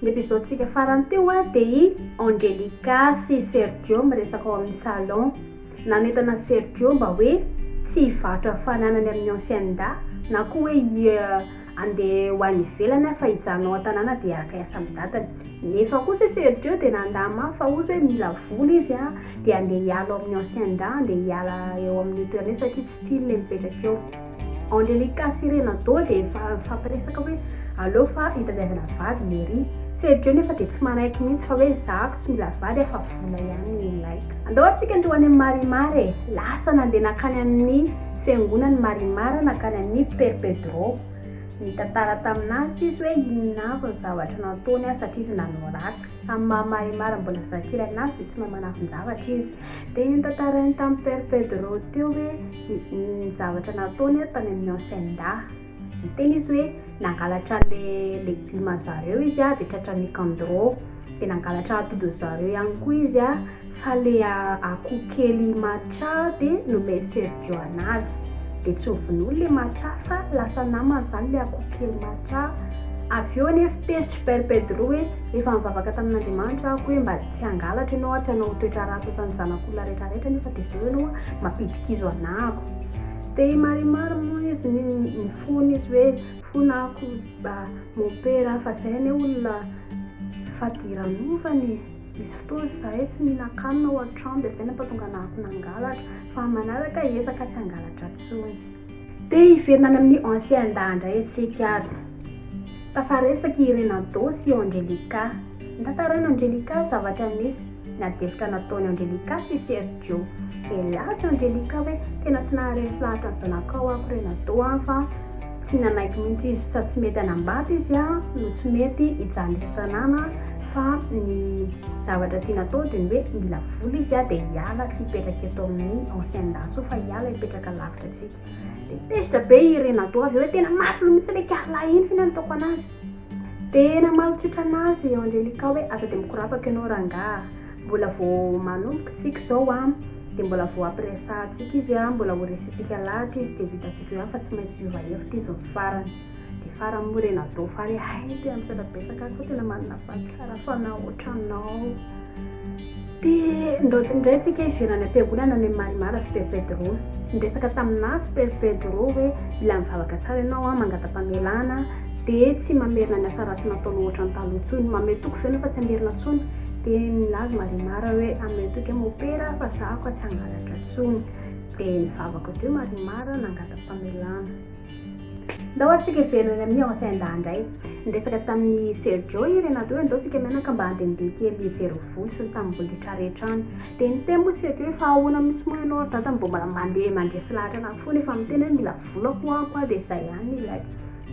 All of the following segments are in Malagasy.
Ny episode tsika farany teo a de i Angelica sy Sergio miresaka ao amin'ny salon. Nanentana Sergio mba hoe tsy hivarotra ny fananany amin'ny ancienne da na koa hoe hi andeha ho any ivelany aho fa hijanona ao an-tanàna de haka hiasa amin'ny dadany. Nefa kosa Sergio de nanda mafy fa ohatra hoe mila vola izy a de andeha hiala ao amin'ny ancienne da andeha hiala eo amin'ny toerana io satria tsy tiany le mipetraka eo. Angelica sy Renato dia efa mifampiresaka hoe aleo fa hitadiavana vady ny ery. Sergio nefa dia tsy manaiky mihitsy fa hoe za ko tsy mila vady afa vola ihany no ilaiko. Andao atsika ndeha ho any amin'i Marimar e! Lasa nandeha nankany amin'ny fiangonan'i Marimar nankany amin'i Père Pedro. Nitantara tamin'azy izy hoe inona avy ny zavatra nataony aho satria izy nanao ratsy. Amin'ny maha Marimar mbola zakirana azy dia tsy mahay manafin-javatra izy. Dia notantarainy tamin'i Père Pedro teo hoe. ny zavatra nataony ary tany amin'ny Hacienda. Niteny izy hoe nangalatra le legioma zareo izy dia tratran'ny Nicandro. Dia nangalatra atody zareo ihany koa izy fa le akoho kely Macha dia nomen'i Sergio anazy. Dia tsy novonoiny le Macha fa lasa namany izany le akoho kely Macha. Avy eo anefa tezitra i Père Pedro hoe efa nivavaka tamin'Andriamanitra aho hoe mba Tsy hangalatra ianao ary tsy hanao toetra ratsy ohatran'ny zanak'olona rehetra rehetra nefa dia zao ianao mampidikizo anako. Dia i Marimar moa izy ny ny fony izy hoe fona ako ba mopera fa zay anie olona fadiran'ovana e. Nisy fotoana izahay tsy mihinan-kanina ao an-trano dia zay nampatonga anako nangalatra fa manaraka ezaka tsy hangalatra intsony. Te hiverina any amin'ny ancien Indah indray isika ary. Tafaresaka i Renanto sy Angelica. Notantarain'i Angelica zavatra nisy niadevotra nataon'i Angelica sy Sergio. Dia laza i Angelica hoe tena tsy naharesy lahatra ny zanakao aho Renanto an fa tsy nanaiky mihitsy izy sady tsy mety hanambady izy an no tsy mety hijaly eto tanàna fa ny zavatra tiany atao dia ny hoe mila vola izy an dia hiala tsy hipetraka eto amin'ny ancien Indah intsony fa hiala hipetraka ka lavitra antsika dia tezitra be i renado avy eo hoe tena mafy loha mihitsy ilay carla iny fina no taoko anazy dia namaly tsotra anazy i angelica hoe aza dia mikorapaka ianao rangaha mbola vao manomboka tsika izao an dia mbola vao ampiresahantsika izy an mbola ho resintsika lahatra izy dia ho hitantsika eo ihany fa tsy maintsy hiova hevitra izy ny farany Dia faran'ny morena do fare hay tena misaotra betsaka ary koa tena manana vato tsara fanahy ohatranao. Dia ndraoty indray antsika hiverana am-piangonana ny Marimara sy Père Pedro. Niresaka taminà sy Père Pedro hoe mila mivavaka tsara ianao an, mangata-pamelana an, dia tsy mamerina ny asa ratsy nataonao ohatran'ny taloha intsony. Mamehy toky ve ianao fa tsy hamerina intsony? Dia nilaza Marimara hoe amehy toky aho Mopera an, fa izaho ka tsy hangalatra intsony. Dia nivavaka teo Marimara nangata-pamelana. Ndao atsika hiverina any amin'ny Haut-Saint-Dahy indray. Niresaka tamin'i Sergio i Renato hoe ndao tsika mianaka mba handehandeha kely hijery ny voly sy ny tanimbolin'tra rehetra any. Dia niteny moa i Sergio hoe fa ahoana mihitsy moa ianao ry dada no mbola mandeha mandresy lahatra an'ahy foana efa miteny hoe mila vola ho'ako aho dia izay ihany ilay.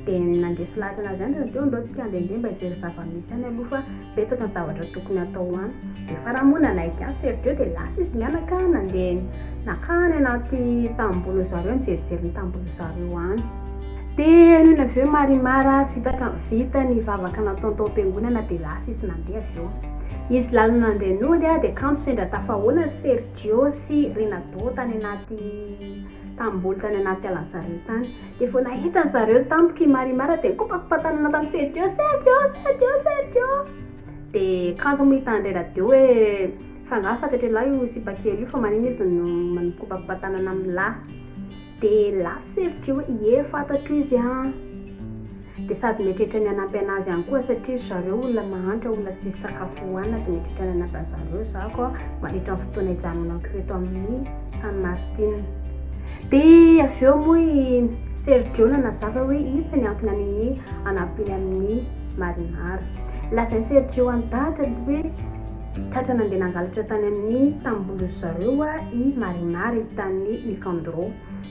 Dia nandresy lahatra an'azy ihany Renato hoe ndao tsika handehandeha mba hijery zava-misy any aloha fa Betsaka ny zavatra tokony atao an! Efa raha moa nanaiky an'i Sergio dia lasa izy mianaka nandeha naka any anaty tamboho zareo nijerijery ny tamboho zareo any. Dia henoina avy eo Marimar vitaka vita ny vavaka nataony tao am-piangonana dia lasa izy nandeha avy eo. Izy lalina nandeha nody dia kanto sendra tafahoana Sergio sy Renato tany anaty tamboho tany anaty alan'i zareo tany. Dia vao nahita ry zareo tampoka i Marimar dia nikopakopak'tanana tamin'i Sergio, Sergio, Sergio, Sergio! Dia kanjo moa hitan'i Reradio hoe fa angaha fantatr'i lahy io sipa kely io fa manina izy no mikopakopak'tanana amin'ny lahy. Dia lahy Sergio hoe ie fantatro izy an! Dia sady mety hatrany hanampy anazy any koa satria ry zareo olona mahantra olona tsisy sakafo hohanina dia mety hatrany hanampy an zareo za koa mandritra ny fotoana hijanonako eto amin'ny San Martin dia avy eo moa i Sergio nanazava hoe inona ny antony amin'ny hanampiany amin'ny Marinara lazain'i Sergio an'i Dada hoe tratra nandeha nangalatra tany amin'ny tambohon'izy zareo i Marinara i Tany Nicandro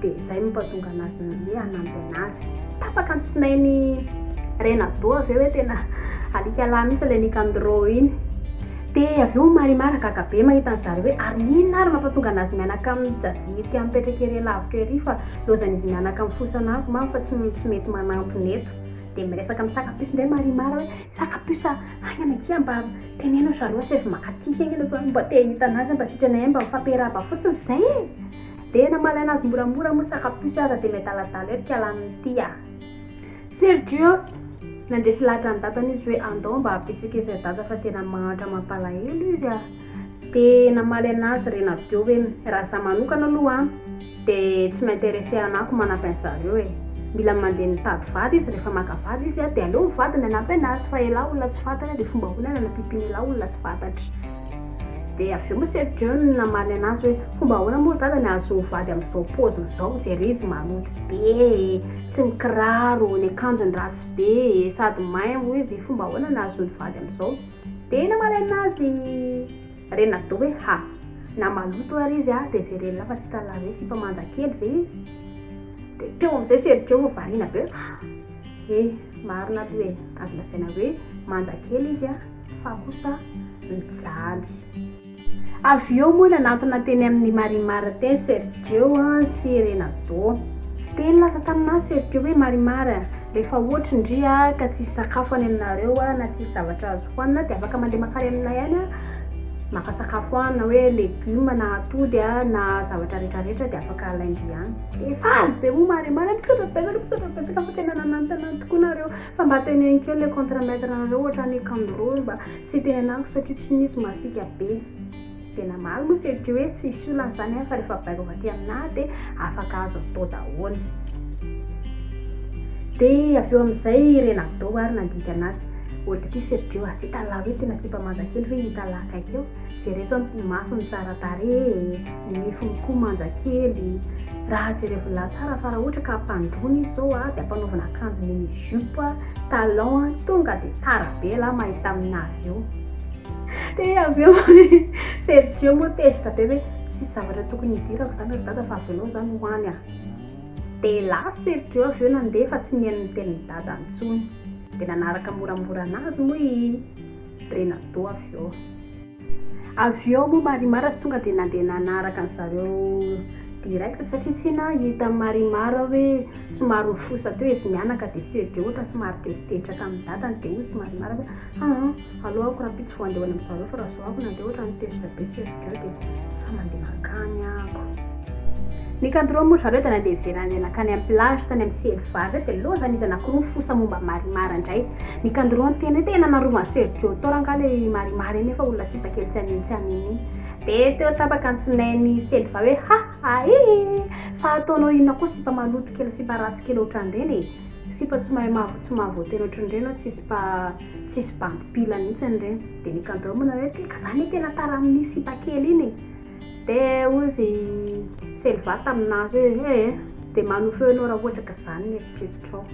Dia izay no mpahatonga anazy ny hoe hanampy anazy. Tapaka ny tsinain'i Reynaldo avy eo hoe tena alika lahy mihitsy ilay Nicandro iny. Dia avy eo Marimar gaga be mahita an'i Zari hoe ary inona ary no mampatonga anazy mianaka amin'i Jajy ity an'i mipetraka ery lavitra ery fa lozan'izy mianaka amin'ny fosan'anko mamy fa tsy tsy mety manampina eto. Dia miresaka amin'ny saka puce indray Marimar hoe saka puce a, haingana akia mba teneno ry zareo asaivo makaty haingana fa mba te hahita anazy a, mba sitrana ihany mba mifampihera haba fotsiny izay e! Dia namalaina azy moramora moa saka puce aza dia miadaladala eto ka lany ny tia a! Sergio, nandresy lahatra an'i Dadan' izy hoe andao mba habetsaka izahay Dada fa tena mahantra mampalahelo izy a! Dia namaly anazy Renabio hoe raha za manokana aloha an! dia tsy m'interesse hanako manampy an'zareo e! mila mandeha mitady vady izy rehefa maka vady izy a! dia aleo ny vadiny hanampy anazy fa elah olona tsy fantatra dia fomba ahoana ny hanampimpin'elah olona tsy fantatra? Dia avy eo moa Sir John namaly anazy hoe, fomba ahoana moa ry dada ny ahazoa vady amin'izao paoziny izao, jereo izy maloto be e, tsy mikiraro, ny akanjony ratsy be e, sady may moa izy, fomba ahoana ny ahazoany vady amin'izao? Dia namaly anazy Renado hoe, ha, na maloto ary izy a, dia jereo lehilahy fa tsy hitan'ny lahy hoe sipa manja kely ve izy? Dia teo amin'izay Sir John variana be hoe, ha, he, marina aloha e, azo lazaina hoe manja kely izy a. fa kosa mijaly. Avy eo moa nanantona teny amin'i Marimar teny Sergio sy Renato. Teny lasa taminà Sergio hoe Marimar a! rehefa ohatry ny ry a ka tsisy sakafo any aminareo a na tsisy zavatra azo hohanina dia afaka mandeha makany aminay any a maka sakafo a na hoe legioma na atody a na zavatra rehetra rehetra dia afaka alain-dry any. Dia faly be moa Marimar a! misaotra betsaka misaotra betsaka fa tena nanantona tokoa nareo. Fa mba teneno kely le contre mètre nareo ohatrany kangoroo mba tsy itenenako satria tsy misy masika be de namaly moa se ty hoe tsisy olana zany an fa refa baiko avy aty amina de afaka azo atao daholo de avy eo amizay i renadoo ary nandinika anazy oe ty sergio a tsy italao eto ty nasiam-pamanja kely ve izy italaa akaiky eo Jereso ny masony tsara tarehy e, ny nifiny koa manja kely, raha jerevon'lah tsara fa raha ohatra ka ampandroana izy zao a, de ampanaovina akanjo mini jupe, talon a, tonga de tara be lah mahita aminazy io, de avy eo Sergio moa tezitra be hoe tsisy zavatra tokony hidirako zany ry dada fa avelao zany ho any a, de lasa Sergio avy eo nandeha fa tsy niheno niteny ny dadany intsony, de nanaraka moramora anazy moa i. Brena Doha avy eo. Avy eo moa Marimar tsy tonga dia nandeha nanaraka an'i zareo direct satria tsy nahita an'i Marimar hoe somary nifosa teo izy mianaka dia Sergio ohatra somary tezitetraka amin'ny dadany dia hoy izy Marimar hoe aa aleo aho ko rahampitso vao handeha ho any amin'i zareo fa raha zao aho ko nandeha ohatran'ny tezitra be Sergio. zareo dia samy mandeha mankany ako. Nikandroa moa ry zareo dia nandeha niverina nandeha nankany amin'ny plage tany amin'ny Seliva indray dia lozan'ny iza nakoron'ny fosa momba Marimar indray. Nikandroa niteny hoe tena narovan'i Sergio Tor angaha ilay Marimar iny efa olona sipa kely tsy anino tsy anino iny. Dia teo tapaka ny tsinain'i Seliva hoe ha ha hi hi hi fa ataonao inona koa sipa maloto kely sipa ratsy kely ohatran'ireny e. Sipa tsy mahay maha tsy mahavoateny ohatran'ireny aho tsy sipa Tsisy bandy mpila mihitsy an'ireny. Dia nikandraomana hoe, teka za le tena tara amin'iny sipa kely iny e! Dia hozy i Selva taminazy hoe, ee, dia manohy feo ianao raha ohatra ka izany ny eritreritrao.